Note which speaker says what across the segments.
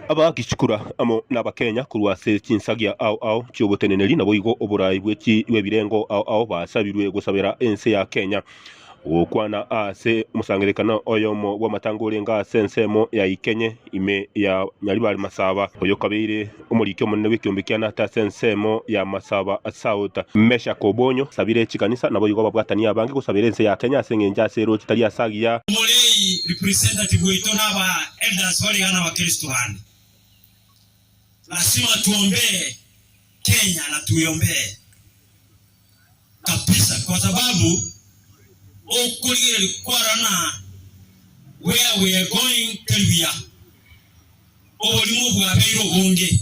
Speaker 1: Abagishikura amo nabakenya korwa ase chinsagia ao ao chioboteneneri naboigo oboraai bw'ebirengo ao ao basabirwe gosabera ense ya Kenya. Gokwana ase omosangererekano oyomo bw'amatango orenge ase ensemo ya Ikenye ime ya Nyaribari Masaba, oyokabeire omoriki omonene bw'ekiombe kia Nata ase ensemo ya Masaba South, Meshack Obonyo asabire chikanisa naboigo ababwatani abange gosabera ense ya Kenya ase eng'encho ase erochi tari ase agiya. Omorei,
Speaker 2: representative, waito naba Elders bari iga nabakristo bande. Lasima tuombee Kenya na tuiombee kabisa kwa sababu okorigereria kwaroo na where we are going teri buya. Oborimo bwabeire obonge.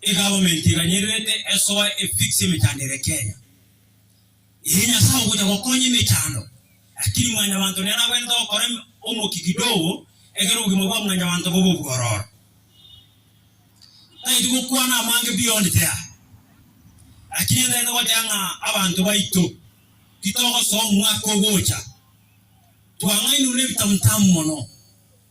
Speaker 2: Egavumenti eganyererete esoe efix emechando ere Kenya. Ee Nyasae ogocha gokonya emechando lakini mwanyabanto nere agwete gokora omokia kidogo ekero obogima bwa mwanyabanto bobe obwororo. Ntagete gokwana amange beyond there lakini ntagete gocha ng'a abanto baito titogosoa omwaka ogocha twang'ainwe nebitamutamu mono.